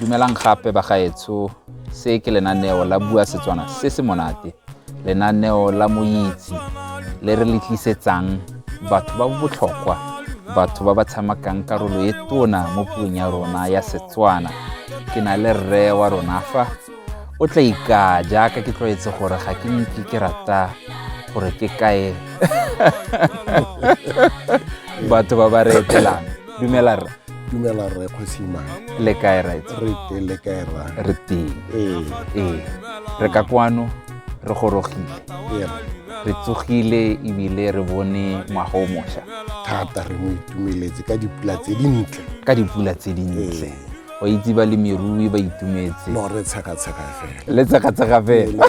Dumelang gape bagaetsho, se ke lenaneo la Bua Setswana se se monate, lenaneo la moitse le re le tlisetsang batho ba botlhokwa, batho ba ba tshamakang karolo e tona mo puong ya rona ya Setswana. Ke na le rre wa rona fa o tla ikaa jaaka ke tlwaetse gore ga ke nke ke rata gore ke kae batho ba ba re etelang. dumela rra dumela rre kgosimane le kae right re te le kae rra re teng ee ee re ka kwano re gorogile ee re tsogile ebile re bone ngwaga o mošwa thata re mo itumeletse ka dipula tse dintle ka dipula tse dintle o itse balemirui ba itumetse no re tshekatsheka fela le tshekatsheka fela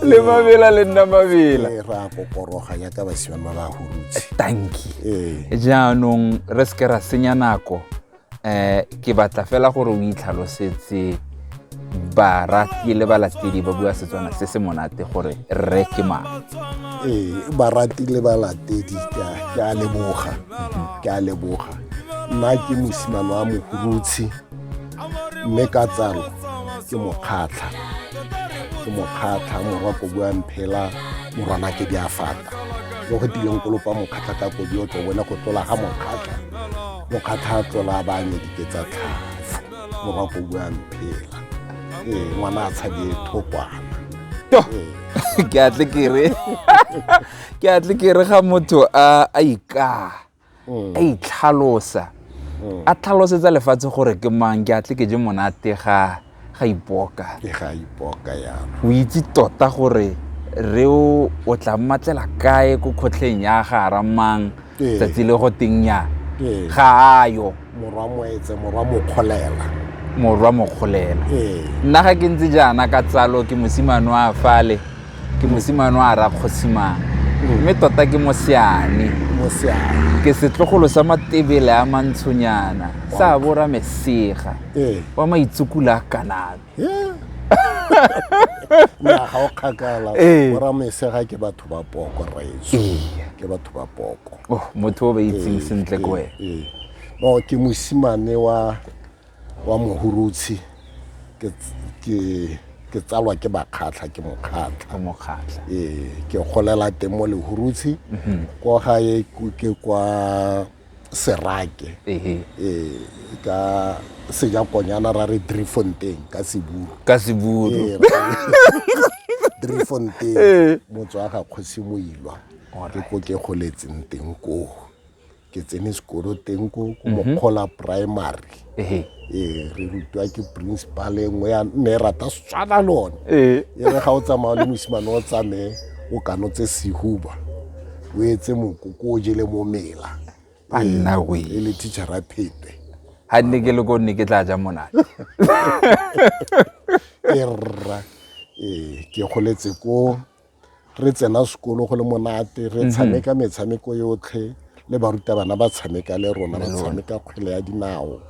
le mabela le nna mabela ee, ra kokoroga yaka basimane ba ba hurutse tanki ee. jaanong re seke ra senya nako um ke batla fela gore o itlhalosetse barati le balatedi ba bua setswana se se monate gore rre ke mang ee barati le balatedi ke a leboga ke a leboga nna ke mosimane wa mohurutshe mme ka tsalo ke mokgatlha ke mokgatlha morwa ko bua mphela morwana ke di a fata mo go tileng kolopa mokgatlha ka kodi o tlo bone go tlola ga mokgatlha mokgatlha a tlola ba anye dike tsa tlhaga mo ba ko buang phela ee ngwana a tshabe thokwana to ke a tle kere ke a tle kere ga motho a a ikaa a itlhalosa a tlhalosetsa lefatshe gore ke mang ke a tle ke je monate ga ga ipoka ke ga ipoka yana o itse tota gore re o o tla mmatlela kae ko kgotlheng ya ga ramang tsatsi le go teng nya ga ayo morwa moetse morwa mokgolela morwa mokgolela nna ga ke ntse jaana ka tsalo ke mosimane wa fale ke mosimane wa ra kgosimane mme tota ke moseane ke setlogolo sa matebele a mantshonyana sa bora mesega wa maitsukula a kanabe ga o kgakala boramesega ke batho batho ba poko rraetso Ee. ke batho ba poko oh motho o ba itseng Ee, sentle ko ee, wena ee. no ke mosimane wa wa mohurutshi ke ts- ke ke tsalwa ke bakgatlha ke mokgatlha ka mokgatlha ee ke golela teng mo lehurutshi kwa gae ku- ke kwa serake ee ka seja konyana ra re drifontein ka seburu ka seburu drifontein motswa ga kgosi moilwa ke ko ke goletseng teng koo ke tsene sekolo teng ko ko mhm. mokgola primary ee re rutwa ke principal e nngwe ya nne e rata setswana le one ee e re ga o tsamaya le mosimane o tsamaye o kano tse sehuba o etse mokoko o jele mo mela A nna we. e le teachera phete ga nne ke le ko nne ke tla ja monate ke rra ee ke goletse ko re tsena sekolo go le monate re mhm. tshameka metshameko yotlhe le barutabana ba tshameka le rona ba tshameka kgwele ya dinao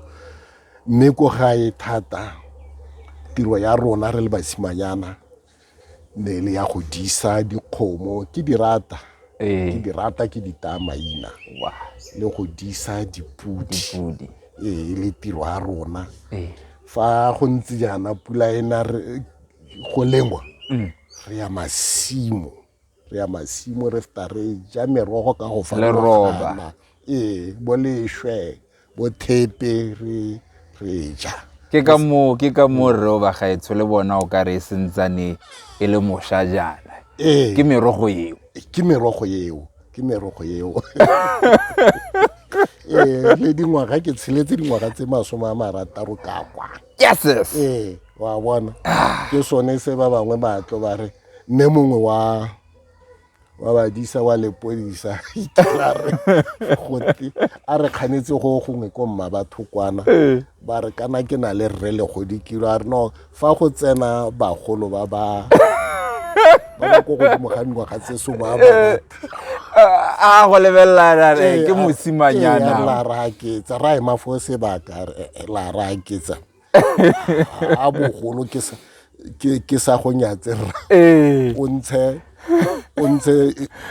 mme ko gae thata tiro ya rona re le basimanyana ne le ya go disa dikgomo ke di rata ee. ke di rata ke di taya maina le go disa dipodi ee le tiro ya rona ee. fa go ntse jaana pula ena go lengwa mm. re ya masimo re ya masimo re feta re ja merogo ka go farologana ee bo lešwe bo thepe re re ja ke ka moo ke ka moo rre o bagaetsho le bona o ka re e sentsane e le mosha jaana ee. ke merogo eo ke merogo eo ke merogo eo ee le dingwaga ke tsheletse dingwaga tse masome a marataro ka kwa yeses ee wa bona ke sone se ba bangwe ba tlo ba re mme mongwe wa wa badisa wa lepodisa itela re gote a re kganetse go gongwe ko mma batho kwana ee. ba re kana ke na le rre legodi kilo a re no fa go tsena bagolo ba ba ba ba ko godimo ga dingwaga tse somo a ba ee. a go lebelela ra re ke mosimanyana la raketsa ra ema fo sebaka la raketsa a bogolo ke sa ke sa go nyatse ra o ntshe o ntshe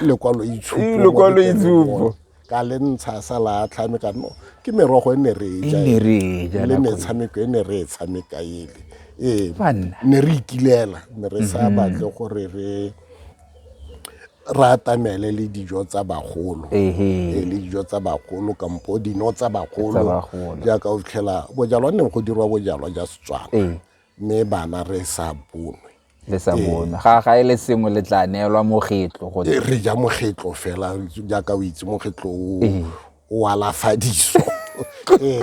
lekwalo itshupo lekwalo itshupo ka le ntsha sa la tlhame ka no ke merogo e ne re ja e le metshameko e ne re e tshameka ele ee ne re ikilela ne re sa batle gore re re atamele le dijo tsa bagolo Ehe. Eh, le dijo tsa bagolo kampo dino tsa bagolo Tsa bagolo. jaaka o fitlhela bojalwa neng go dirwa bojalwa ja setswana Ee. mme bana re sa bonwe le sa bonwe ga ga e le sengwe le tla neelwa mogetlo go Eh, re ja mogetlo fela jaaka o itse mogetlo o Ee. o alafadiso ee,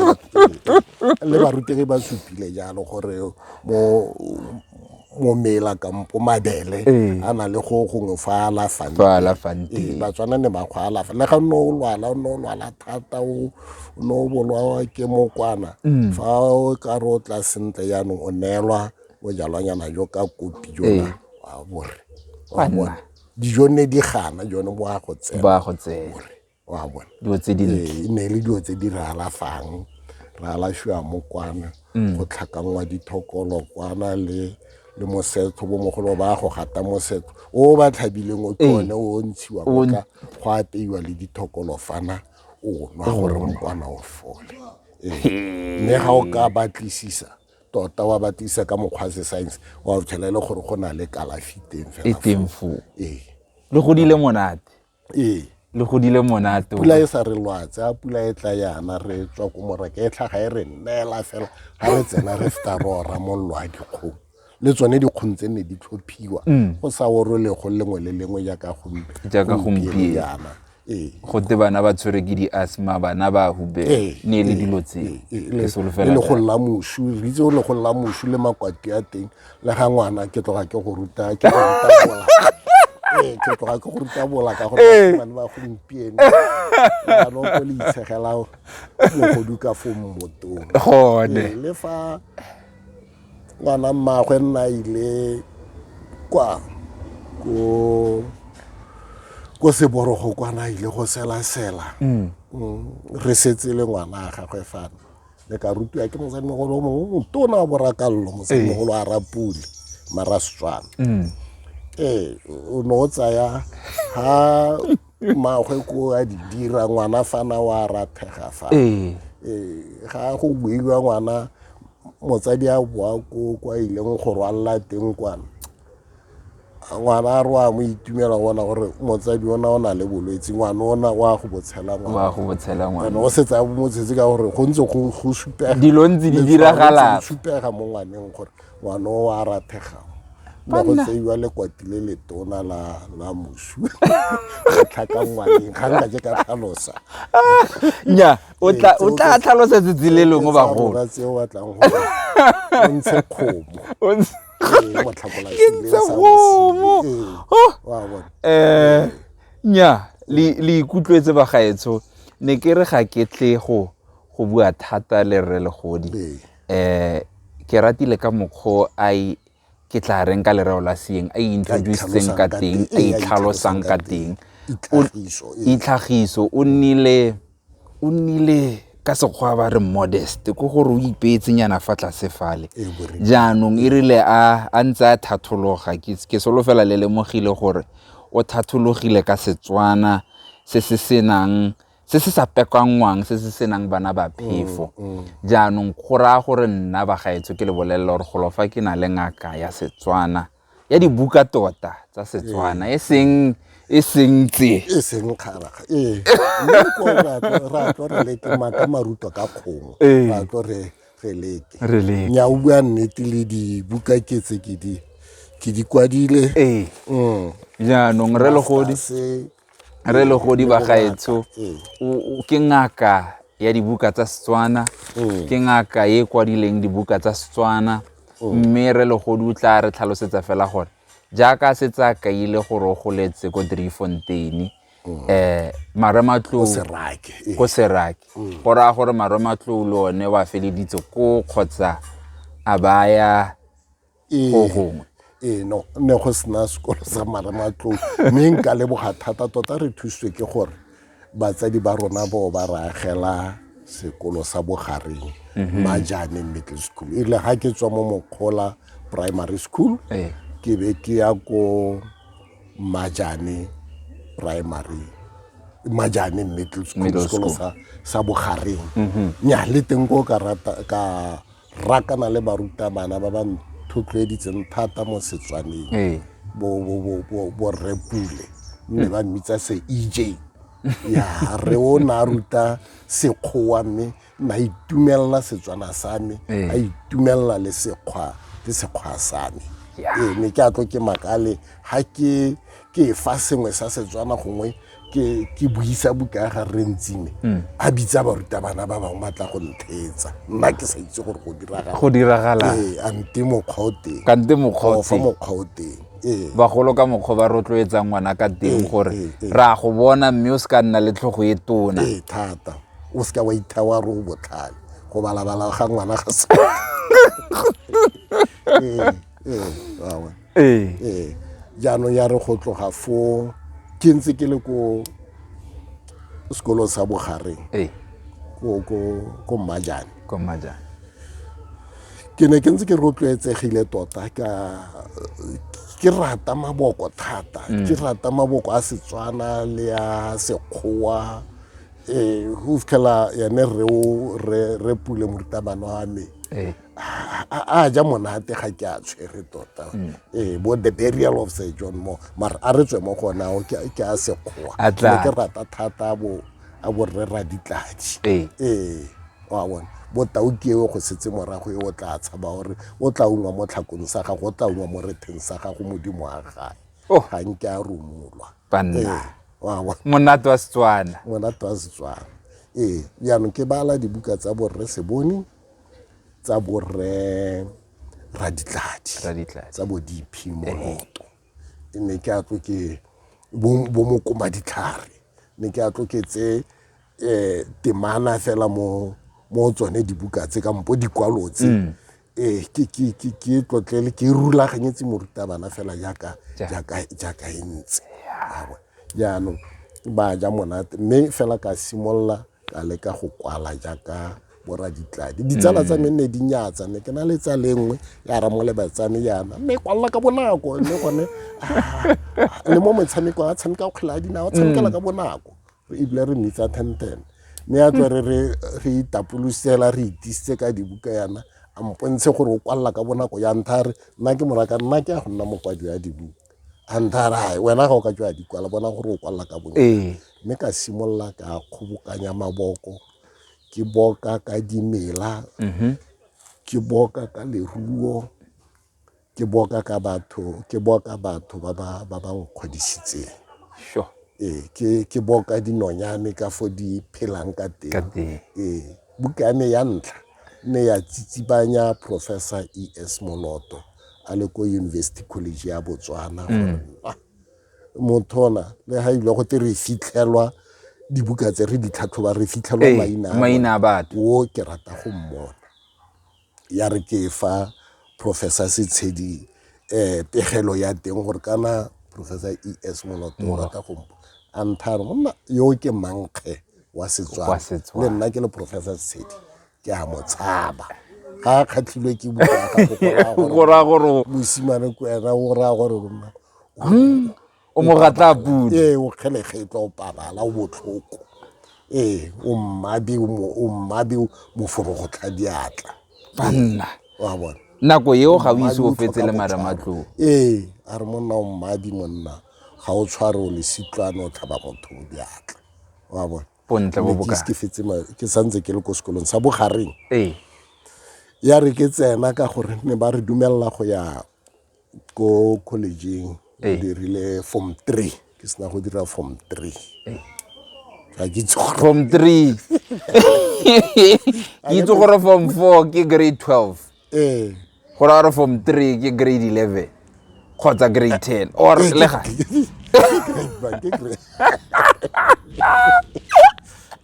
le barutegi ba supile jalo gore mo momela kampo mabele ee. a na le go gongwe fa alafang ee, teng batswana ne ba go alafa le ga nne o lwala o ne o lwala thata o ne o bolwawa ke mokwana mm. fa o ka re o tla sentle jaanong o neelwa bojalwanyana jo ka kopi jona wa bore wa bone dijo ne di gana jone bo a go tsena wa bona dilo tse dintle Ee, e ne e le dilo tse di re alafang re alafiwa mo kwana go tlhakangwa dithokolo kwana le le mosetlho bomogolo ba go gata mosetlho o ba tlhabileng o ke one o ntshiwa O n- ka go apeiwa le dithokolo fana o nwa gore mokwana o fole Ee. mme ga o ka batlisisa tota wa batlisisa ka mokgwa wa se-science wa o tshela e le gore go na le kalafi teng e fela teng foo ee le godile monate ee le godile monate pula e sa re lwatse a pula e tla yana re tswa ko moraka e tlhaga e re nnela fela ga re tsena re feta re ora mollo a dikgong le tsone dikgong tse ne di tlhophiwa mm. go sa orolego lengwe le lengwe jaaka gompiejana ee. go te bana ba tshwere ke di-asma bana ba hube ee, ne e le ee, dilo tse le go lla mosu re itse go le go lla mosu le makwati a teng le ga ngwana ke tloga ke go ruta ke go ruta bola ee ke tloga ke go ruta bola ka gore ee. bane ba gompieno ano ko le itshegela mogodu ka fo mmotong gone ee, le fa ngwana mmagwe nna ile kwa ko ko seborogo kwana ile go selasela mm. mm. re setse le ngwana a gagwe fano le ka rutiwa ke mosadimogolo o mongwe motona wa borakallo mosadimogolo a rapule mara setswana mm. ee o ne o tsaya ha magwe ko a di dira ngwana fana wa rathega fa ee. ee, ga go builwa ngwana motsadi a boa ko kwa ileng go rwalela teng kwana ngwana a re wa mo itumela bona gore motsadi ona o na le bolwetse ngwana ona wa go botshela ngwana go botshela ngwana and o se tsaya motshetse ka gore go ntse go go supega dilo ntse di diragala supega mo ngwaneng gore ngwana o a rathega ba go tseiwa lekwati le letona la la mosu tlhaka ngwaneng ga nka je ka tlhalosa nya o tla o tla tlhalosa tsitsi le lengwe bagolo ba tseo batlang go ntshe khomo ke ntse gomo um nya le ikutlwetse bagaetsho ne ke re ga ke tle go go bua thata le rre legodi um ke ratile ka mokgwa a ke tla reng ka lereo la seeng a introduceng ka teng a itlhalosang ka teng itlhagiso o nnile O nnile ka sekgwa ba re modest ke gore o ipeetsenyana fa tlase fale jaanong e rile a a ntse a thathologa ke solofela le lemogile gore o thathologile ka setswana se se senang se se sa pekanngwang se se senang bana ba phefo mm, mm. jaanong go raya gore nna bagaetsho ke le bolelela gore golofa ke na le ngaka ya setswana ya dibuka tota tsa setswana e seng e seng tse e seng kgaraga ee mme ko ra tlo- ra tlo re leke maka maruto ka kgomo Ee. ra tlo re re leke Re leke. nya o bua nnete le dibuka ke tse ke di ke di kwadile ee Mm. jaanong re legodi Masters, re le godi ba gaetsho mm. ke ngaka ya dibuka tsa setswana mm. ke ngaka e kwadileng dibuka tsa setswana mm. mme re legodi o tla re tlhalosetsa fela gore jaaka se tsa kaile gore o goletse ko driefonteine um eh, marematlou ko serake go raya gore marematlou le one wa feleditse ko kgotsa a baya go gongwe ee no ne go sena sekolo sa marematlou mme nka leboga thata tota re thusitswe ke gore batsadi ba rona bo ba re agela sekolo sa bogareng mhm. majane middle school e rile ga ke tswa mo mokgola primary school ee. ke be ke ya ko majane primary majane middle school sekolo sa bogareng mhm. nya le teng ko ka rakana le barutabana ba ba nthotloeditseng thata mo setswaneng ee. borre pule mme ba mmitsa se ej ya re o ne a ruta sekgowa mme na itumelela setswana sa me ee. a itumelela le sekgwa le sekgwa sa me ee mme ke a tlo ke makale ga ke ke fa sengwe sa setswana gongwe ke ke buisa buka ya ga rre ntsime mm. a bitsa barutabana ba bangwe ba tla go nthetsa nna ke sa itse gore go diragala go diragala ee a nte mokgwa o teng ka nte mokgwa o teng mokgwa o teng ee. bagolo ka mokgwa ba rotloetsang ngwana ka teng ee, gore ee, ra go bona mme o se ka nna le tlhogo e tona ee thata o se ka wa ithawa re o botlhale go balabala ga ngwana ga se ee jaanong ya re go tloga foo ke ntse ke le ko sekolong sa bogareng ko mmajane ke ne ke ntse ke rotloetsegile tota ka ke rata maboko thata mm. ke rata maboko a setswana le ya sekgowa um go fitlhela yone re pule morutabana wa me a ja monate ga ke a tshwere tota mm. ee bo the burial of sir john mo mara a re tswe mo gona ao ke a sekgowa ne ke rata thata bo a borre ra ditladi ee. ee wa bona bo tauki eo go setse morago e o tla tshaba gore o tla ungwa mo tlhakong sa gago o tla ungwa mo retheng sa gago modimo wa gae oh. ga nke a romolwa ee, monate wa setswana monate wa setswana ee jaanong ke bala dibuka tsa borre sebone tsa borre raditladi Raditladi. tsa bo dp moroto ke ne ke atlo ke bo bo mokoma ditlhare ne ke atlo ke tse eh temana fela mo mo tsone dibuka tse ka mpo dikwalo tse Mm. eh ke ke ke ke tlotlele ke rulaganyetse morutabana fela jaaka jaaka jaaka e ntse Awa. jaanong ba ja monate mme fela ka simolola ka leka go kwala jaaka boraditladi ditsala tsa me nne di nyatsa ne ke na le tsa lengwe ya ramoleba tsa me yana mme kwalela ka bonako mme gone le mo metshamekong a tshameka kgwele a dinao tshamekela ka bonako re ebile re mmitsa tenten mme ya tlo re re itapolosela re itisitse ka dibuka yana a mpontshe gore o kwalela ka bonako ya ntha re nna ke moraka nna ke ya go nna mokwadi ya dibuka a ntha re gae wena ga o ka tswa ya dikwala bona gore o kwalela ka bonako mme ka simolola ka kgobokanya maboko ke boka ka dimela mm-hmm. ke boka ka leruo ke boka ka batho ke boka batho ba ba ba ba nkgodisitseng sure ee ke ke boka dinonyane ka fo di phelang ka teng ee buka ya me ya ntlha ne ya tsitsibanya professor e s moloto a le ko university college ya botswana mm. gore mothola le ga ile go te re fitlhelwa dibuka tse re ditlhatlhoba re fitlhelwa eh, maina a batho o ke rata go mmona ya re ke fa professor setshedi um pegelo ya teng gore kana professor e s moloto o rata go mpo a nthare gonna yo ke mankge wa setswana le nna ke le professor setshedi ke a mo tshaba ga a kgatlhilwe ke bukagora gore mosimane ko ena o raya gore rona hmm, o mo ratla pudi ee o kgelegetlo o pabala o botlhoko ee o mmabi o mmabi moforogo tlha diatla banna wa bona nako eo ga o ise o fetse le maramatloo ee a re monna o mmabi monna ga o tshware o lesitlwane o tlhaba motho o diatla wa bona bontle bo boka ke fetse ma ke santse ke le ko sekolong sa bogareng ee ya re ke tsena ka gore ne ba re dumelela go ya ko collegeng ke dirile form three ke sena go dira form three ga ke itse gore form three ke itse gore form four ke grade twelve ee go ra gore form three ke grade eleven kgotsa grade ten or Ee, ke- lega ke grade one, ke grade-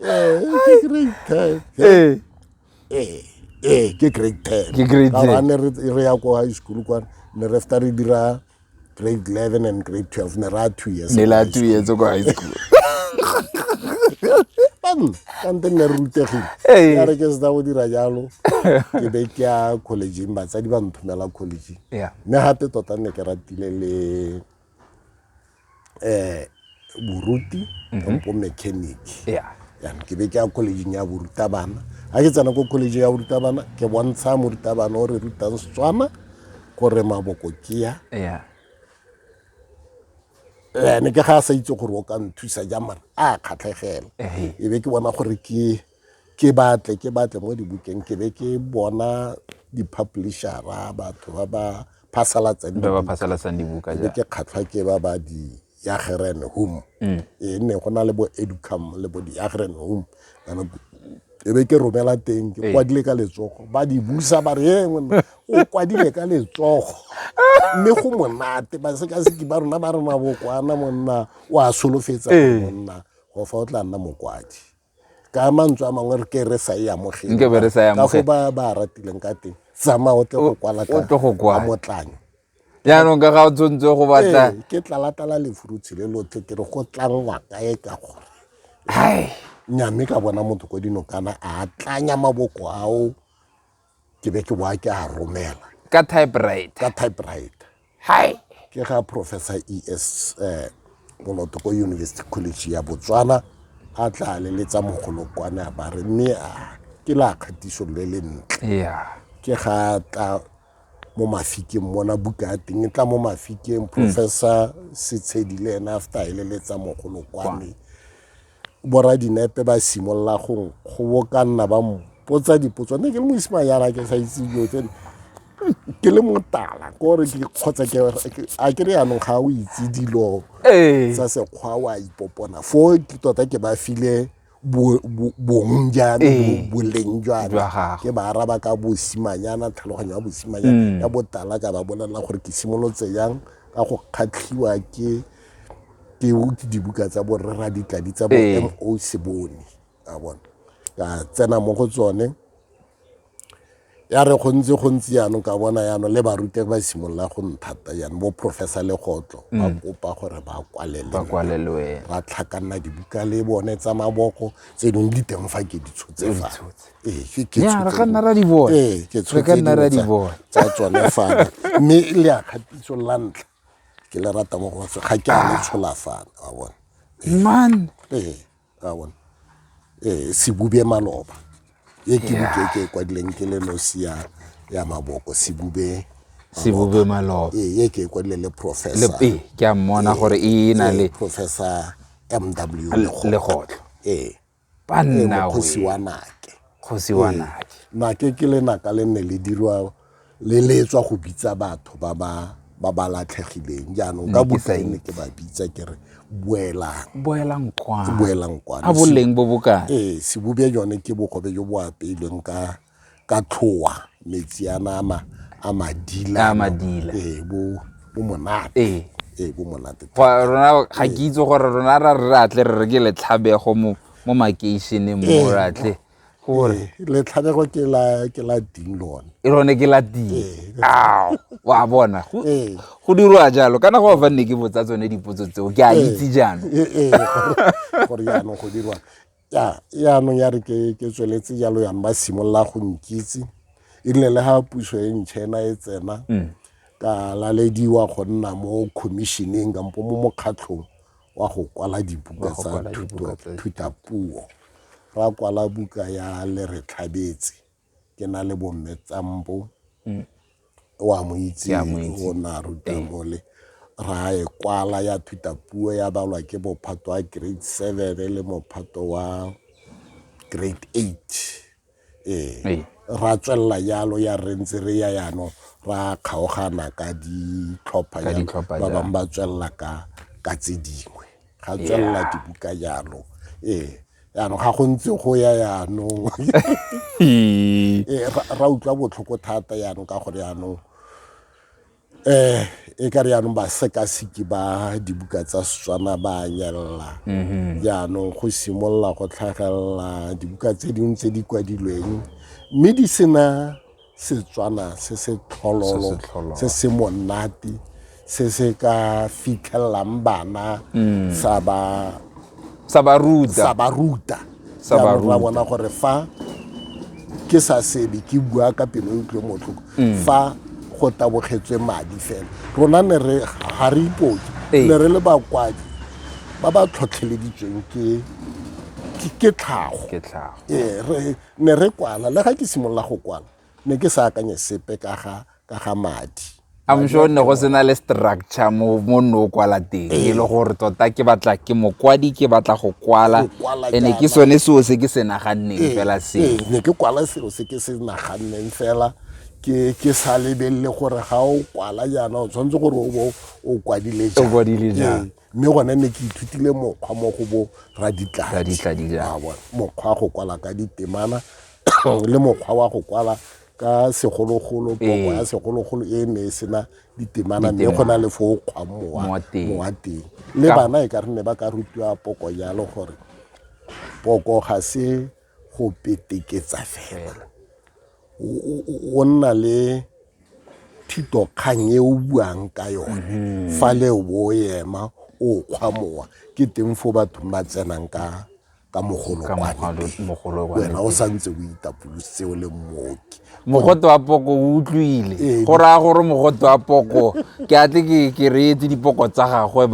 Ee, ke grade ten. ee Ee, ee, ke grade ten Ke grade Ka gore 10. ha ne re re ya ko high school kwane ne re fta re dira grade 11 and grade 12 ne ra two years ne la two years ko high school kante nne re rutegile ya re ke seta go dira jalo ke be ke ya collegeng batsadi ba nthomela collegeng mme gape tota nne ke ratile le um boruti mhm. kampo mechanic yana ke be ke ya collegeng ya borutabana ga ke tsena ko college ya borutabana ke bontsha morutabana o re rutang setswana gore maboko ke ya ene ke ga a sa itse gore o ka nthusa jang mara a kgatlhegela e be ke bona gore ke ke batle ke batle mo dibukeng ke be ke bona di-publishera batho ba ba phasalatsang ba ba phasalatsang dibuka be ke kgatlhwa ke ba ba di yageren home mm. e nne go na le bo educam le bo di yageren home e be ke romela teng ke kwadile ka letsogo ba di busa ba re e o kwadile ka letsogo mme go monate ba sekaseki ba rona ba re mabokwana monna o a solofetsa monna go fa o tla nna mokwadi ka mantswe a mangwe re ke re sa e amogele Nke be re sa e ka go amogele. ba ba ratileng ka teng tsamaya o tle go kwala o tle go kwala. motlanyo jaanong ka ga o tshwanetse go batla Ee, ke tlalatala lefurutshi le lotlhe ke re go tlangwa kae ka gore hai nyame ka bona motho ko dinokana a tlanya maboko ao ke be ke boa ke a romela ka typewriter ka typewriter hi ke ga professor es eh, moloto ko university college ya botswana a tla leletsa mogolokwane a bare mme a ke la kgatiso le le ntle yeah. ke ga tla mo mafikeng mona buka ya teng e tla mo mafikeng mm. professor setshedi le ena after a eleletsa mogolokwane mm. boradinepe ba simolola go gobokanna ba mpotsa dipotso nne ke le mosimane yana ke sa itse dilo tsene ke le motala kore kgotsa a ke re yanong ga o itse dilo tsa sekgwa wa ipopona fo ke tota ke ba file bong jana ee. boleng jana ke ba araba ka bosimanyana tlhaloganyo ya bosimanyana mm. ya botala ka ba bolelela gore ke simolotse yang ka go kgatlhiwa ke ke utse dibuka tsa borre ra ditladi tsa bo Ee. mo sebone a bona ka tsena mo go tsone ya re go ntse go ntse jaanong ka bona jaanong le barute ba simolola go nthata jaanong bo professor legotlo ba kopa gore ba kwalele Mm. ba kwalelwe ba tlhakanna dibuka le bone tsa maboko tse dingwe di teng fa ke di tshotse fa tshotse. Ee, ke- ke Ya, tshotse re ka nna ra di bona. Ee, ke Re ka tshotse nna ra di dingwe tsa- bona. tsa tsone fana mme le a kgatiso la ntlha ke le rata mo go ga ke a le tsholafana wa bona man ee wa bona ee sebube maloba e ke buke ke e kwadileng ke le nosi ya ya maboko sebube sebube maloba ee e ke e kwadile le professor le ke a mmona gore e na le professor mw legotlo ee ba nna kgosi wa nake kgosi wa nake nake ke lenaka le nne le dirwa le le tswa go bitsa batho ba ba ba ba latlhegileng jaanong ka bokae ne ke ba bitsa ke re boelang boelang kwana boelang kwana a boleng bo bokae ee sebube jone ke bogobe jo bo apeilweng ka ka tlhoa metsi a nama a madila a madila ee bo bo monate ee ee bo monate rona ga ke itse gore rona ra re atle re re ke letlhabego mo mo makeišeneng mo ee. re atle gore ee, letlhabego ke la ke la ding lone e lone ke la ding ee. ao wa bona go go dirwa jalo kana go fa nne ke botsa tsone dipotso tseo ke a itse jaanong gore jaanong go dirwa ya yaanong ya re ke ke tsweletse jalo yang ba simolola go nkitse erile le ga puso e ntšha ena e tsena mm. ka lalediwa go nna mo commissioneng kampo mo mokgatlhong wa go kwala dibuka tsa thutapuo ra kwala buka ya le re tlhabetse ke na le bomme tsampo o a mo itse o na ruta mole ra e kwala ya thuta puo ya balwa ke mophato wa grade seven le mophato wa grade eight ee ra tswelela jalo ya re ntse re ya yano ra kgaogana ka ditlhopha ba bangwe ba tswelela ka ka tse dingwe ga tswelela dibuka jalo ee yaanong ga go ntse go ya yaanong ee, ra utlwa botlhoko thata yaanong ka gore yaanong um e ka re yaanong basekaseki ba dibuka tsa setswana ba nyelela mhm. jaanong go simolola go tlhagelela dibuka tse dingwe tse di kwadilweng mme di sena Setswana se se tlhololo se se monate se se ka fitlhelelang bana mm. sa ba sa ba ruta sa ba ruta sa ba ruta bona gore fa ke sa sebe ke bua ka pelo e utlwe motlhoko mm. fa go tabogetswe madi fela rona ne re ga re ipoke ee. ne re le bakwadi ba ba tlhotlheleditsweng ke ke tlhago ke tlhago ee, ne re kwala le ga ke simolola go kwala ne ke sa akanye sepe ka ga ka ga madi I'm sure ne go sena le structure mo mo no kwala teng e le gore tota ke batla ke mokwadi ke batla go kwala Go kwala ene ke jaana. sone seo se ke se naganneng Ee, fela ee, se ne ke kwala selo se ke se naganneng fela ke ke sa lebelele gore ga o kwala jaana o tshwanetse gore o bo o kwadile O kwadile jang. Ee. mme gone ne ke ithutile mokgwa mo go bo raditladitladila mokgwa wa go kwala ka ditemana le mokgwa wa go kwala ka segologolo poko ya segologolo e ne e sena ditemana mme go na le fo o kgwang mowa teng le bana e ka re ne ba ka rutiwa poko jalo gore poko ga se go peteketsa fela. O nna le thitokgang e o buang ka yone mm-hmm. fa le o bo ema o kgwa mowa ke teng fo batho ba tsenang ka ka mogolokwanewena o santse o itapolositse o le mmoki mogote wa poko o utlwile ee, go raya gore mogote wa poko ke a tle ke reetse dipoko tsa gagwe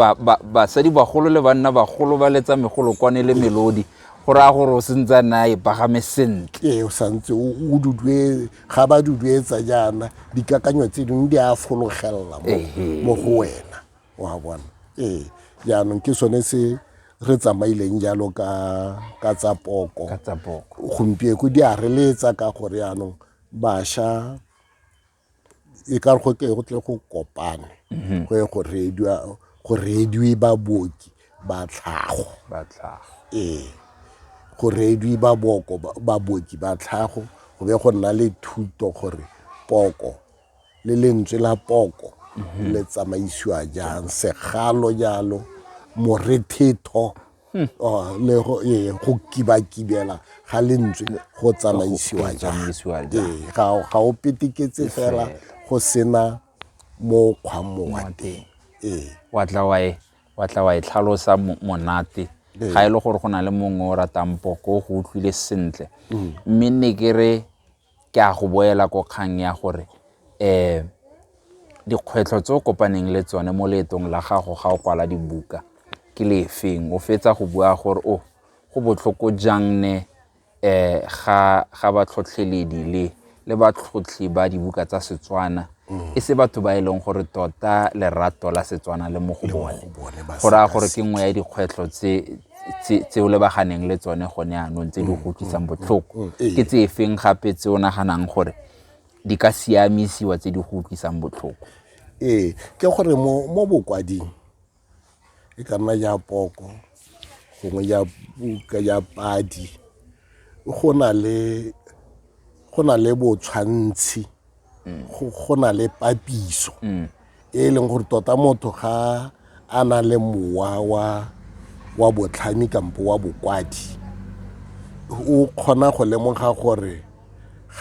basadi bagolo le banna bagolo ba letsa megolokwane le melodi go raya gore o sentse a nna e pagame sentle ee o santse o dudue ga ba duduetsa jaana dikakanyo tse dingwe di a fologelela mo go wena wa bona ee jaanong ke sone se re tsamaileng jalo ka tsa poko gompieko di a reletsa ka gore jaanong bašwa e ka re go ke go tle go kopana mhm. go ye go reediwa go reediwe baboki ba tlhago ba tlhago ee go reediwe baboko baboki ba tlhago go be go nna le thuto gore poko le lentswe la poko mhm. le tsamaisiwa jang segalo jalo morethetho Hmm. Oh, le go ee go kibakibela ga lentswe go tsamaisiwa jang ee ga o peteketse fela go sena mo kgwamo wa teng ee wa tla wa e wa tla wa e tlhalosa monate ee. ga e le gore go na le mongwe o ratang poko go utlwile sentle hmm. mme ne ke re ke a go boela ko kgang ya gore um dikgwetlho tse o kopaneng le tsone mo leetong la gago ga o kwala dibuka ke lefeng o fetsa go bua gore o oh, go botlhoko jang ne um ga batlhotlheledi le le batlhotlhi ba dibuka tsa setswana mm. e se batho ba e leng gore tota lerato la setswana le mo go bone go raya gore ke nngwe ya dikgwetlho tse o lebaganeng le tsone gone anong tse di mm, go utlwisang mm, botlhoko ke tse efeng gape tse o naganang gore di ka siamisiwa tse di go utlwisang botlhoko ee ke gore mo bokwading e ka nna ya poko gongwe ya puka ya padi go na le go na le botshwantshi go na le papiso mm. e leng gore tota motho ga a na le mowa wa wa botlhami kampo wa bokwadi o kgona go lemoga gore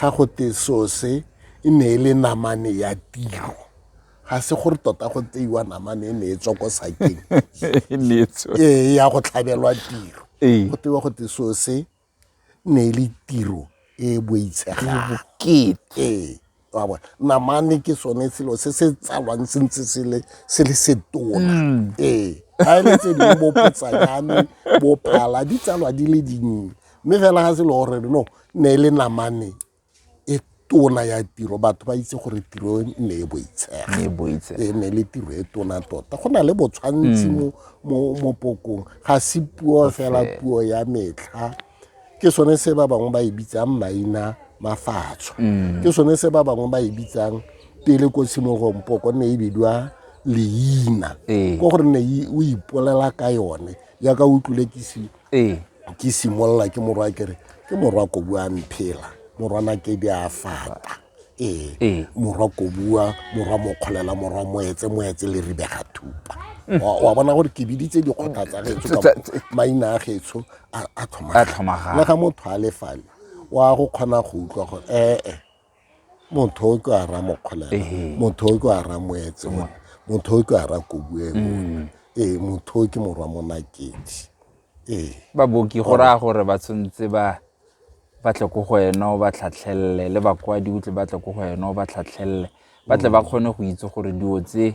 ga go te sose e ne e le namane ya tiro ga se gore tota go tseiwa namane e ne e tswa ko sakeng e ne e tswa ee ya go tlhabelwa tiro Ee. go tewa go te so se ne e le tiro e e boitshegang bokete ee wa bona namane ke sone selo se se tsalwang se ntse se le se le setona ee ga e le tse dingwe bo potsanyane bo phala di tsalwa di le dinnye mme fela ga se le gore no ne e le namane e tona ya tiro batho ba itse gore tiro e ne e boitshega e ne le tiro e tona tota go na le botshwantsi mm. mo pokong ga se puo fela puo ya metlha ke sone se ba bangwe ba e bitsang maina mafatsho mm. ke sone se ba bangwe ba e bitsang pele ko tshimogong poko ne e bidiwa leina ee. ko gore ne o ipolela ka yone yaka o tlolekisiwa ee ke simolola ke morwa kere ke morwa kobu a mphela morwana kedi a fata ee, ee. morwa kobua morwa mokgolela morwa moetse moetse le ribega thupa mm. wa bona gore ke biditse dikgotha tsa getso maina a getso a tlhomagana le ga motho a lefale wa go kgona go utlwa gore ee eh, eh. motho o ke a ra mokgolela Ehe. motho o ke a ra moetse mona motho o ke a ra kobueng mona ee motho o ke morwa monakedi ee baboki go raya gore ba tshwanetse ba ba tle ko go wena o ba tlhatlhelele le bakwadi o tle ba tle ko go wena o ba tlhatlhelele ba tle ba kgone go itse gore dilo tse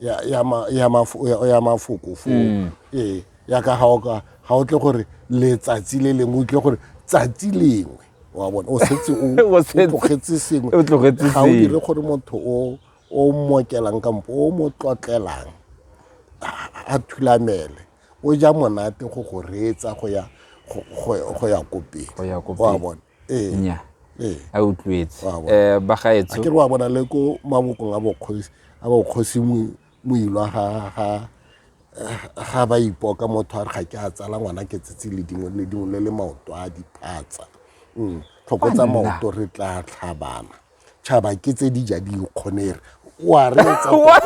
ya ya ma ya mafo ya- ya mafoko foo Mm. ee ya ka ga o ka ga o tle gore letsatsi le lengwe o tle gore tsatsi lengwe wa bona o setse o O o setse- tlogetse sengwe o tlogetse ga o sengwe. dire gore motho o o mmokelang kampo o mo tlotlelang a- a thulamele o ja monate go go reetsa go ya go- go go ya ko pele Go ya ko wa pele. bona ee. nya ee. a utlwetse um eh, bagaetso ke re wa bona le ko mabokong a bokgosi a bokgosi moilwa ga ga ba ipoka motho a re ga ke a tsala ngwana ke tsetse le dingwe le dingwe le le maoto a diphatsa mm, tlhokotsa maoto re tla tlhabana tšhaba ke tse di ja dikgonere wa reetsa wa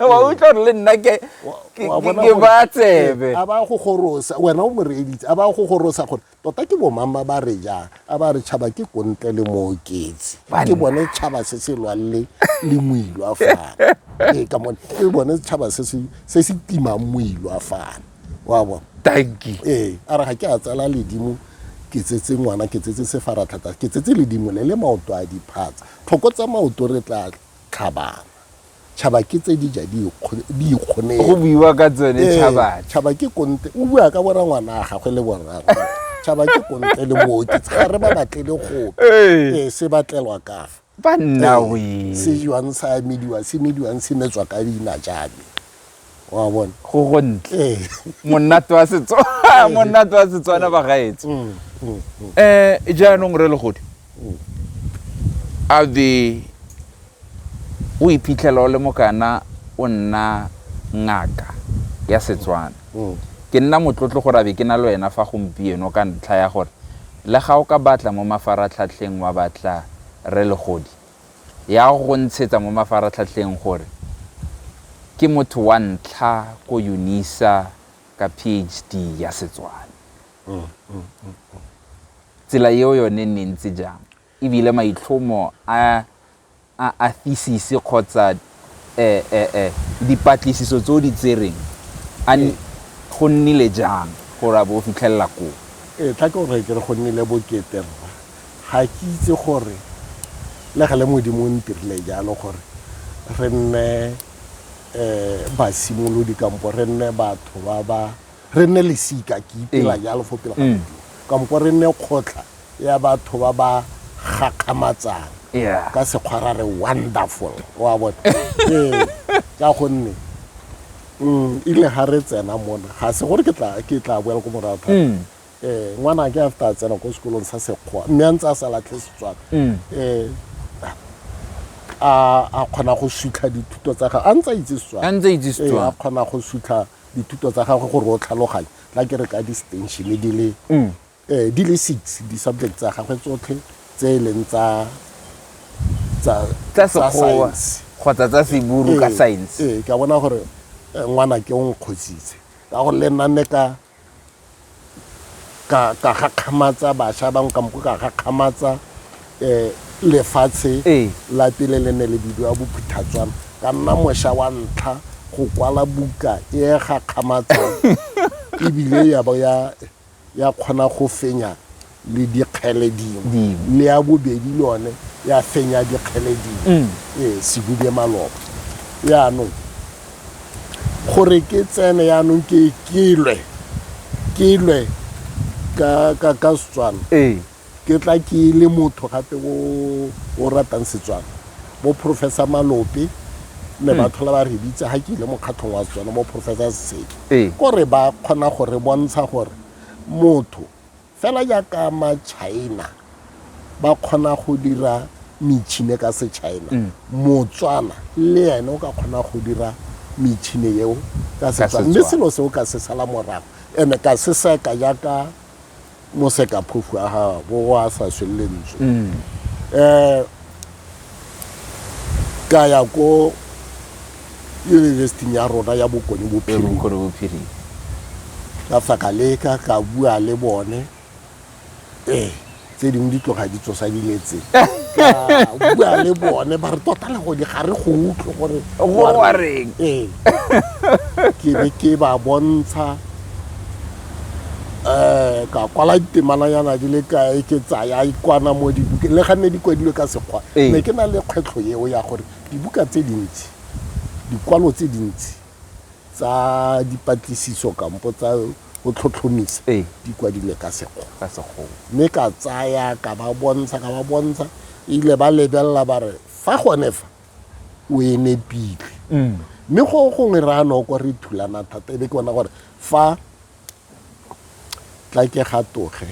wa utlwa gore le nna ke Wa- ke- wa ke- bona ke gore- ba tsebe a ba go gorosa wena o mo reeditse a ba go gorosa gore tota ke bomang ba ba re jang a ba re tšhaba ke kontle le mooketsi ke Banna. bone tšhaba se se lwang le le moilwa fana ee ka mone ke bone tšhaba se se se se timang moilwa fana wa bona tanki ee a re ga ke a tsela ledimo ke tsetse ngwana ke tsetse sefaratlhatsa ke tsetse ledimo le le maoto a diphatsa tlhoko tsa maoto re tla tlhabana tšhaba ke tse di ja di ikgone go buiwa ka tsone ee, tšhaba tšhaba ke konte o bua ka bora ngwana a gagwe le borra tšhaba ke konte le mooki ga re ba batlele gope ee. ee se batlelwa kafa ba nna ee, we se jwang sa mediwang se mediwang se metswa ka dina jabe wa bona go go ntle ee. monate wa setso monate wa setswana ba gaetse um mm, mm, mm. jaanong re legodi a be o iphitlhela o le mokana o nna ngaka ya setswana ke nna motlotlo gore a be ke na le wena fa gompieno ka ntlha ya gore Le ga o ka batla mo mafaratlhatlheng wa batla Rre Legodi, ya go go ntshetsa mo mafaratlhatlheng gore ke motho wa ntlha ko Unisa ka PHD ya Setswana. Tsela eo yone e ne e ntse jang? e bile maitlhomo a a a thisisi kgotsa e e e dipatlisiso tse o di tsereng a Ee. go nnile jang gore a bo o fitlhelela koo ee tla ke gore ke re go nnile bokete rra ga ke itse gore le gale modimo o ntirile jalo gore re nne um basimolodi kampo re nne batho ba ba re nne lesika ke ipela ee. jalo fo pele ga mm. modimo kampo re nne kgotlha ya batho ba ba gakgamatsang ka sekgwa ra re wonderful wa bone ee, ka gonne mm, ile ga re tsena mona ga se gore ke tla boela ko morago thata um mm. eh, ngwana ke after a tsena ko sekolong sa sekgwa mme a ntse a sa latlhe setswana um eh, a kgona go sutlha dithuto tsa gage a ntse a itse setswana a kgona go sutlha dithuto tsa gagwe gore o tlhaloganye tla ke re ka distensione di le um di le six di-subject tsa gagwe tsotlhe tse e leng tsa science kgotsa tsa seburu ka science ee ka bona gore ngwana ke o nkgositse ka gore le nna ne ka ka ka gakgamatsa bašwa ba nkampo ka gakgamatsa um lefatshe la pele le ne le bidiwa bophuthatswana ka nna mošwa wa ntlha go kwala buka e gakgamatsang ebile ya bo ya kgona go fenya le dikgele dingwe mme ya bobedi le one ya fenya dikgele dingwe mm. ee sebube maloba yaanong gore ke tsene yaanong ke kelwe kelwe ka ka ka setswana ee ke tla ke le motho gape o o ratang setswana bo professor malope ne ba mm. tlhola ba re bitse ga ke ile mokgatlhong wa setswana bo professor seseke ee. kore ba kgona gore bontsha gore motho Fela jaaka Matšhaena ba kgona go dira metšhine ka Setšhaena, Motswana le ene o ka kgona go dira metšhine eo ka Setswana. Mme selo seo ka se sala morago and-e ka se seka jaaka mosekaphofu a bo a sa swe lentswe. ka ya ko university-ing ya rona ya bokone bophirima ka fa ka leka ka bua le bone ee tse dingwe di tloga di tsosa diletseng bua le bone ba re tota le gone ga re go utlwe gore go wareng ee ke be ke ba bontsha um ka kwala ditemananyana di le kae ke tsaya ikwana mo dibukeng le ga nne di kwadilwe ka sekgwa Ee. ne ke na le kgwetlho eo ya gore dibuka tse dintsi dikwalo tse dintsi tsa dipatlisiso kampo tsa go tlhotlhomisa Ee. di kwadilwe ka sekgwa ka sekgowa mme ka tsaya ka ba bontsha ka ba bontsha ile ba lebelela ba re fa gone fa o e nepile mme go gongwe re a noko re thulana thata e be ke bona gore Fa Tlakegatoge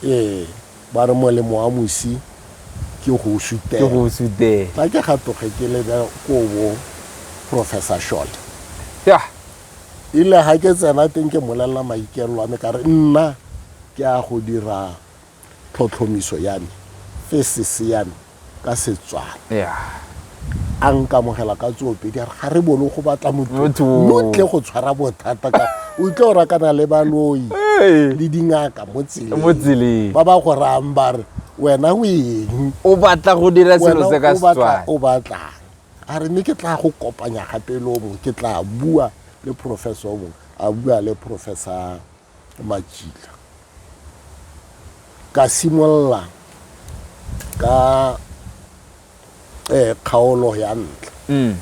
e ba re molemo wa mosi ke go sutela. Ke go sutela. Tlakegatoge ke le ko bo Professor Short. Yeah. Ile ga ke tsena teng ke molelela maikelelo a me ka re nna ke a go dira tlhotlhomiso ya me, thesis ya me ka Setswana. Yeah. a nkamogela ka tsoopedi a re ga re bone go batla motho lo tle go tshwara bothata ka o tle o rakana le baloi le dingaka mo tseleng ba ba go rayang ba re wena o eng o batla go dira selo se ka setswana o batlang a re mme ke tla go kopanya gape le o mongwe ke tla bua le professor o mongwe a bua le professor makitla ka simolola ka eh, kgaolo ya ntlha mm.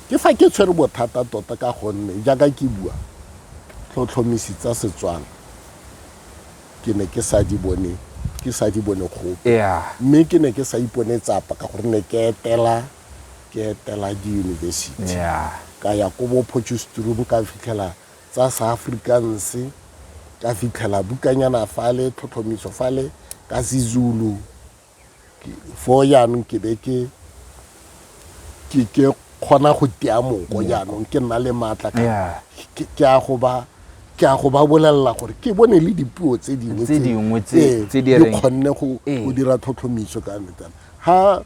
ke fa ke tshwere bothata tota ka gonne jaaka ke bua tlhotlhomisi tsa setswana ke ne ke sa di bone ke sa di bone gope mme ke ne ke sa ipone tsapa ka gore ne ke etela ke etela diyunibesithi ka ya ko bo potchestroom ka fitlhela tsa Seafrikaans, ka fitlhela bukanyana fale, tlhotlhomiso fale ka Sezulu. Foo jaanong ke be ke ke ke kgona go tea moko jaanong ke nna le maatla ka Yeah. ke ke a go ba ke a go ba bolelela gore ke bone le dipuo tse dingwe Tse dingwe tse- ee, tse di reng- kgonne go Ee. go dira tlhotlhomiso ka metana ha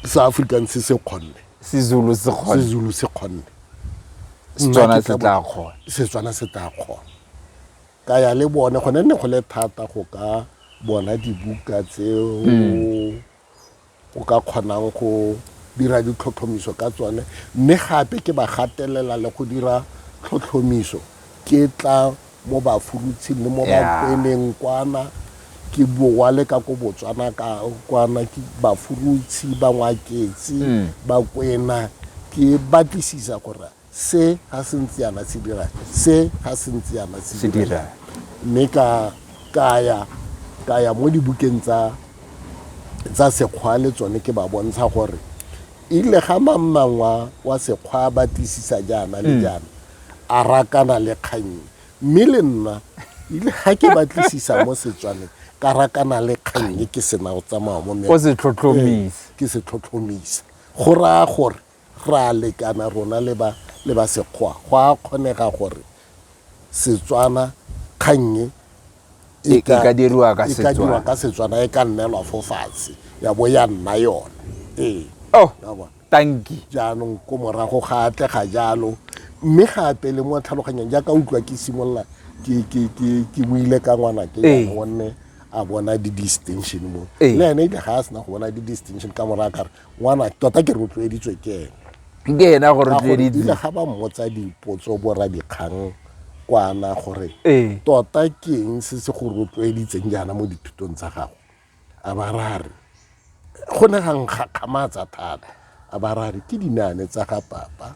Seafrikaans se kgonne sezulu se kgone sezulu se kgonne setswana se tla kgona setswana se tla kgona ka ya le bone gone nne go le thata go ka bona dibuka tseo hmm. o ka kgonang go dira ditlhotlhomiso ka tsone mme gape ke ba gatelela le go dira tlhotlhomiso ke tla mo bafurutshing le mo bakweneng kwana ke borwa le ka ko botswana ka kwana ke bafurutshi bangwaketsi mm. bakwena ke batlisisa gore se ga se ntse yana se dira se ga se ntse yana se dira mme ka kaya kaya mo dibukeng tsa tsa sekgwa le tsone ke ba bontsha gore ile ga mamangwa wa sekgwa batlisisa jaana le mm. jaana a rakana le kgang e mme le nna ile ga ke batlisisa mo setswaneng ka rakana le kgang e ke sena go tsamaya mo o se tlhotlhomise ke se tlhotlhomisa go raya gore ra lekana rona le ba le ba sekgwa go a kgonega gore setswana kgang e E- e ka diriwa ka e ka diriwa Setswana. ka setswana e ka nnelwa fo fatshe ya bo ya nna yone ee oh Wa bona? tanki. Jaanong ko morago ga atle ga jalo mme gape le mo tlhaloganyang jaaka utlwa ke simolola ke buile ka ngwana ke ee. gonne a bona di-distinction mo ee. le ene ile ga a sena go bona di-distinction ka morago kare ngwana tota ke rotloeditswe ke ene ke ena go rotloeditswe ga ba mmotsa dipotso bora dikgang kwana gore ee. tota ke eng se se go rotloeditseng jaana mo dithutong tsa gago a ba rare go ne ga nkgakgamatsa thata a ba rare ke dinane tsa ga papa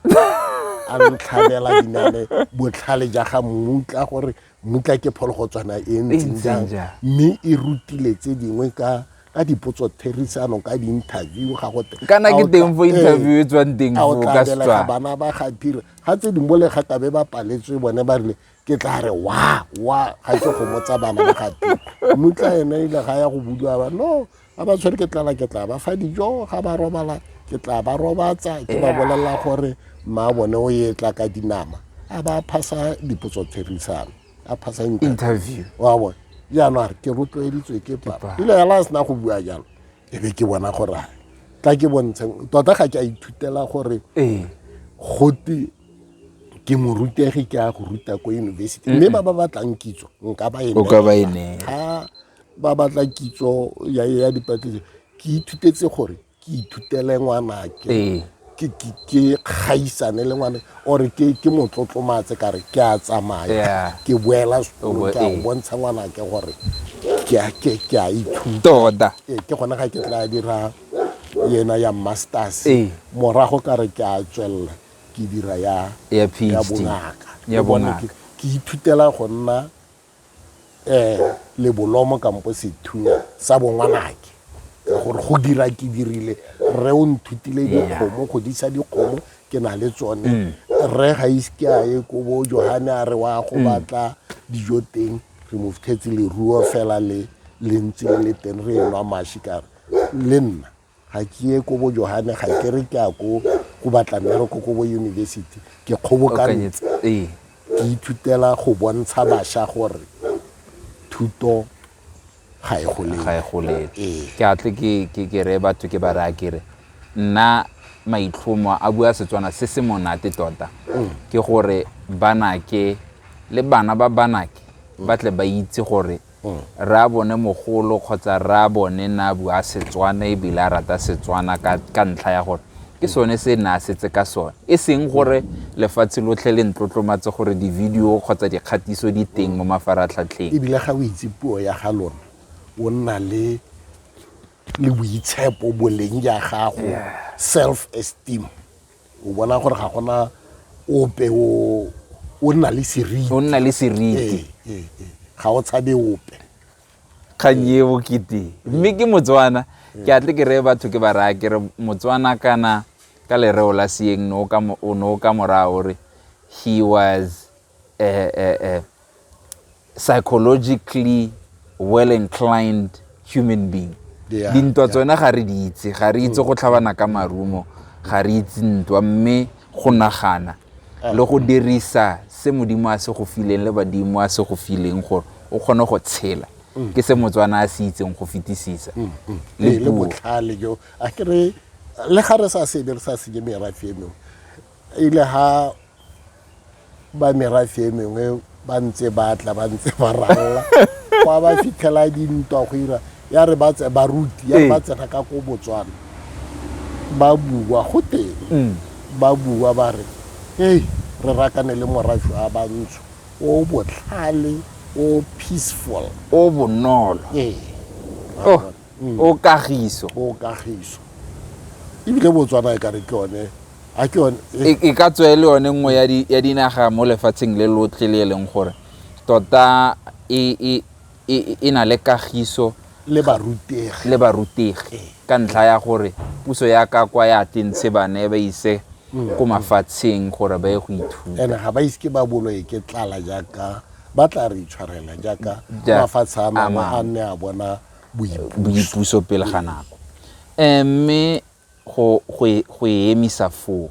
a ntlhabela dinane botlhale ja ga mmutla gore mmutla ke phologotswana e ntseng jang mme e rutile tse dingwe ka ka dipotso therisano ka di-interview ga gote kana ke teng fo interview e tswang teng fo ka setswa bana ba ga phira ga tse dingwe le ga kabe ba paletswe bone ba rile ke tla re wa wa ga ke gomotsa bana ba gati mutla ene ile ga ya go budiwa ba no ga ba tshwere ke tlala ke tla ba fa dijo ga ba robala ke tla ba robatsa ke ba bolelela gore mma bone o ye tla ka dinama a ba phasa dipotso therisano a phasa interview wa bone jaanong a re ke rotloeditswe ke papa ile ya la sena go bua jalo e be ke bona gore tla ke bontsheng tota ga ke a ithutela gore ee. gote ke morutegi ke a go ruta ko yunibesithi mme ba ba batlang kitso nka ba e ga ba batla kitso ya dipatlisiso ke ithutetse gore ke ithutele ngwanake ee. ke gaisane le ngwane ore ke motlotlomatse kare ke a tsamaya ke boela sekolo ke a go ee. bontsha ngwanake gore ke a ithuta ee, ke gone ga ke tla dira yena ya masters ee. morago ka re ke a tswelela ke dira ya ya bongaka ya bongaka ke ithutela go nna um lebolomo kampo sethunya sa bongwanake gore go dira ke dirile rre o nthutile dikgomo go disa dikgomo ke na le tsone mm. rre ga iske a ye ko bo johane a re wa go mm. batla dijo teng re mo fitlhetse leruo fela le le ntse le le teng re enwa mashi kare le nna Ga ke ye ko bo Johane, ga ke re ke ya ko go batla mmereko ko bo yunibesithi. Ke kgobokantse, ke ithutela go bontsha bašwa gore thuto ga e golele. ga e golele Ee. ke atle ke ke ke re batho ke ba raya ke re nna maitlhomo a bua setswana se se monate tota ke gore banake le bana ba banake ba tle ba itse gore Rraabone mogolo kgotsa rraabone ne a bua Setswana ebile a rata Setswana ka, ka ntlha ya gore ke sone se ne a setse ka sone e seng gore lefatshe lotlhe le ntlotlomatse gore di-video kgotsa dikgatiso di teng mo mafaratlhatlheng ebile ga o itse puo ya ga lona o nna le le boitshepo boleng ja gago self esteem o bona gore ga gona ope o o nna le seriti o nna le seriti Ee, ee, ee. ga o tshabe ope kgang e bokete mme ke motswana ke atle ke reye batho ke ba raya ke re motswana kana ka lereo la seeng no ka mo- o no ka morago re he was a, a, a psychologically well inclined human being yeah, dintwa yeah. tsone ga re di itse ga re itse go tlhabana ka marumo ga re itse ntwa mme go nagana ah. le go dirisa se modimo a se go fileng le badimo a se go fileng gore o kgone go tshela mm. ke se motswana a se itseng go fetisisa mm, mm. le botlhale jo a kere le ga re sa sebe re sa senye merafe e mengwe e le ha ba merafe e mengwe ba ntse ba tla ba ntse ba ralla kwa ba fitlhela dintwa go ira ya re ba tse baruti ya re ba tsena ka ko botswana ba bua go teng mm. ba bua ba re hey re rakane le morafe wa bantsho o botlhale o peaceful o bonolo ee oh. mm. o kagiso o kagiso ebile botswana e ka re ke yone a ke yone e, e, e ka tswe le yone nngwe ya dinaga mo lefatsheng le lotlhe le e leng gore tota e, e na le kagiso le barutegi le barutegi ee. ka ntlha ya gore puso ya ka kwa ya tentshe bana e ba ise mm. ko mafatsheng gore ba ye go ithuta ene ga ba ise ke ba bolo e ke tlala jaaka ba tla re itshwarela jaaka mafatshe a mangwe a nne a bona boipuso pele ga nako um mme go e emisa foo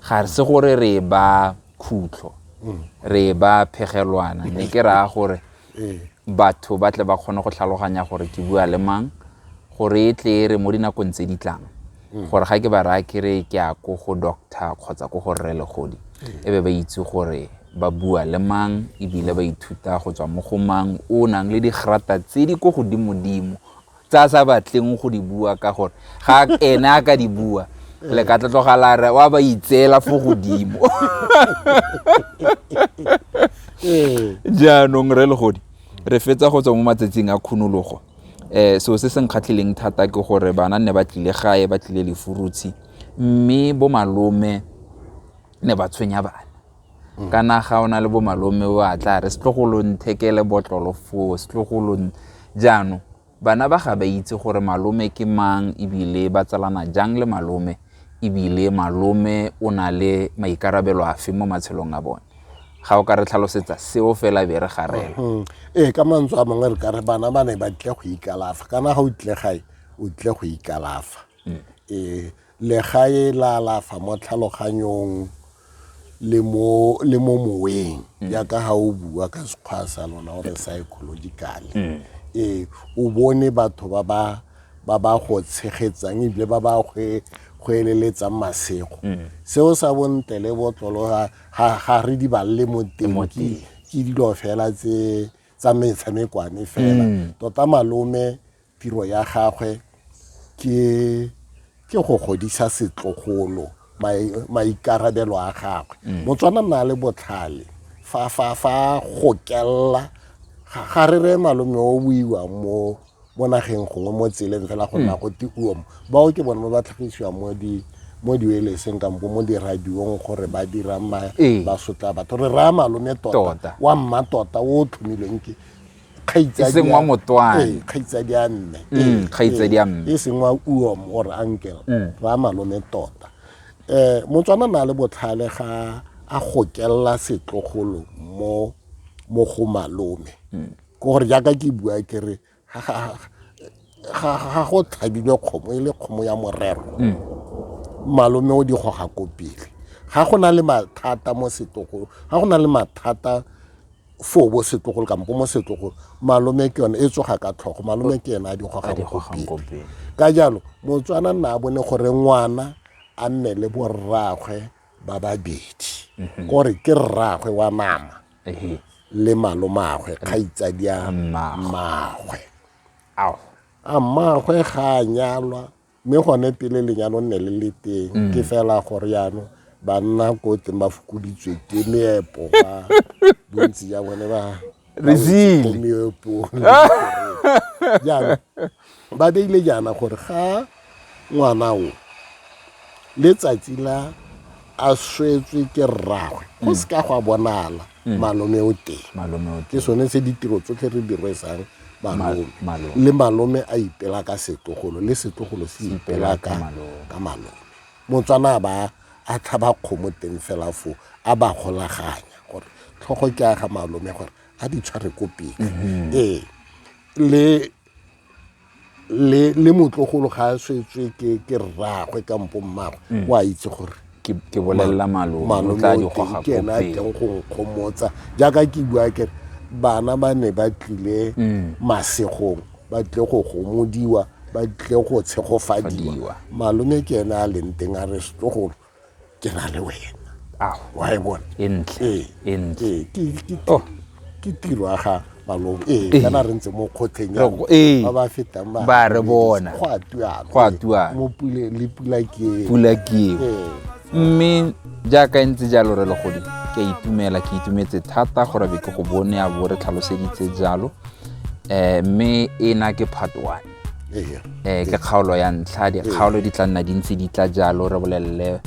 ga se gore re e ba khutlo mm. re e ba phegelwana mme ke raya gore ee. batho ba tle ba kgone go tlhaloganya gore ke bua le mang gore e tle e re mo dinakong tse di tlang mm. gore ga ke ba raya kere ke a ko go doctor kgotsa ko go rre legodi mm. e be ba itse gore ba bua le mang ebile ba ithuta go tswa mo go mang o nang le digrata tse di ko godimodimo tse a sa batleng go di bua ka gore ga ene a ka di bua le ka tlatlogalare wa ba itseela fo godimo ee. jaanong re legodi re fetsa go tswa mo matsatsing a khunologo um so se se nkgatlhileng thata ke gore bana ne ba tlile gae ba tlile lefurutshi mme bo malome ne ba tshwenya bana mm. kana ga o na le bo malome o a tla re setlogolo nthekele botlolo foo setlogolo jaanong bana ba ga ba itse gore malome ke mang ebile ba tsalana jang le malome ebile malome o na le maikarabelo afe mo matshelong a bone ga o ka re tlhalosetsa seo fela be re garela mm-hmm. ee ka mantswe a mangwe re ka re bana ba ne ba tle go ikalafa kana ga o tle gae o tle go ikalafa mm. ee legae la alafa mo tlhaloganyong le mo le mo moweng jaaka ha o bua ka sekgwa sa lona gore psychological ee o bone batho ba ba ba ba go tshegetsang ebile ba ba gwe go eleletsang masego seo sa bontle le botlolo ga- ga ga re di balele mo teng ke ke dilo fela tse tsa metshamekwane fela tota malome Tiro ya gagwe ke ke go godisa setlogolo maikarabelo a gagwe mm. motswana nna le botlhale fa fa fa gokelela ga re re malome o buiwa mo mo nageng gongwe mo tseleng fela go nna mm. go tiuo mo bao ke bone ba ba tlhagisiwang mo di mo diweleseng kampo mo diradiong gore ba dirang ba ee. sotla batho re raya malome tota wa mma tota o tlhomilweng ke kgaitsadi e seng wa motswana ee kgaitsadi a mme mm, ee, kgaitsadi a ee, mme e seng wa uom or uncle mm. ra malome tota eh motswana na le botlhale ga a gokella setlogolo mo mo go malome mm. ke gore jaaka ke bua ke re ga go tlhabilwe kgomo e le kgomo ya morero mm. malome o di goga ko pele ga go na le mathata mo setlogolo ga go na le mathata foo bo setlogolo kampo mo setlogolo malome ke yone e tsoga ka tlhogo malome ke ena a dikgogagogope ka jalo motswana nna a bone gore ngwana a nne le borraagwe ba babedi mhm. kore ke rraagwe wa nama le malomagwe kgaitsadi ya mmagwe a mmagwe ga a nyalwa mme gone pele lenyalo nne le le teng mm. ke fela gore yaanong banna ko teng ba fokoditswe ke meepo ba bontsi ja bone ba meepong jaanong ba beile jaana gore ga ngwana o letsatsi la a swetswe ke rragwe go mm. se ka go a bonala mm. malome o teng ke sone se ditiro tsotlhe re di rwesang malome le malome a ipela ka setlogolo le setlogolo se ipela ka ka malome motswana ba a tlhaba kgomo teng fela fo a ba golaganya gore tlhogo ke a ga malome gore a di tshware ko pele mm-hmm. ee le le le motlogolo ga a swetswe ke ke rraagwe kampo mmagwe o a itse gore ke ke bolelela malome o malome tla o di teng goga ke ena a kopeng teng go nkgomotsa jaaka ke bua kere bana ba ne ba tlile masegong ba tlile go gomodiwa ba tlile go tshegofadiwa Fadiwa. malome ke ene a leng teng a re setlogolo ke na le wena ao wa e bona e ntle Ee. e ntle Ee, ke- ke- Oh. ke tiro ya ga malong ee Ee. kana re ntse mo kgotlheng ya Re- ee. ba ba fetang ba Ba re bona. go a tuana Go a tuana. mo pule le pula ke pula ke eo ee mme jaaka e ntse jalo re legodi ke a itumela ke itumetse thata gore be ke go bone a bo re tlhaloseditse jalo um mme e na ke part one um ke kgaolo ya ntlha dikgaolo di tla nna di ntse di tla jalo re bolelele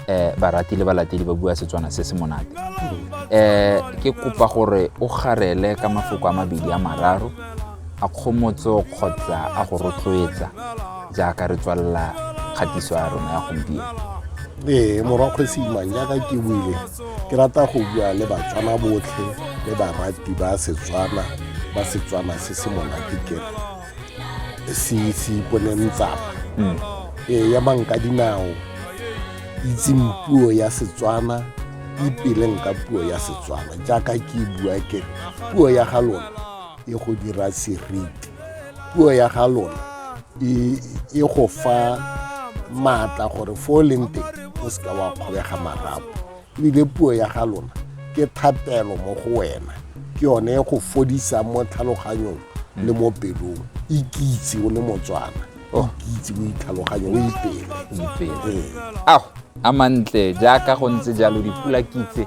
um barati le balatedi ba bua setswana se se monate um ke kopa gore o garele ka mafoko a mabedi a mararo a kgomotso kgotsa a go rotloetsa jaaka re tswalela kgatiso ya rona ya gompieno ee morwa kgwesi imang jaaka ke buile ke rata go bua le batswana botlhe le barati ba setswana ba setswana se se monate ke se se iponeng tsapa hmm. ee ya banka dinao itseng puo ya setswana ipeleng ka puo ya setswana jaaka ke bua ke puo ya ga lona e go dira seriti puo ya ga lona e, e go fa maatla gore fo o leng teng o seka wa kgobega marapo ebile puo ya ga lona ke thapelo mo go wena ke yone e go fodisa mo tlhaloganyong le mo pelong ikitse o le motswana oh. ikitse o itlhaloganye o ipele ao a mantle jaaka go ntse jalo dipula kitse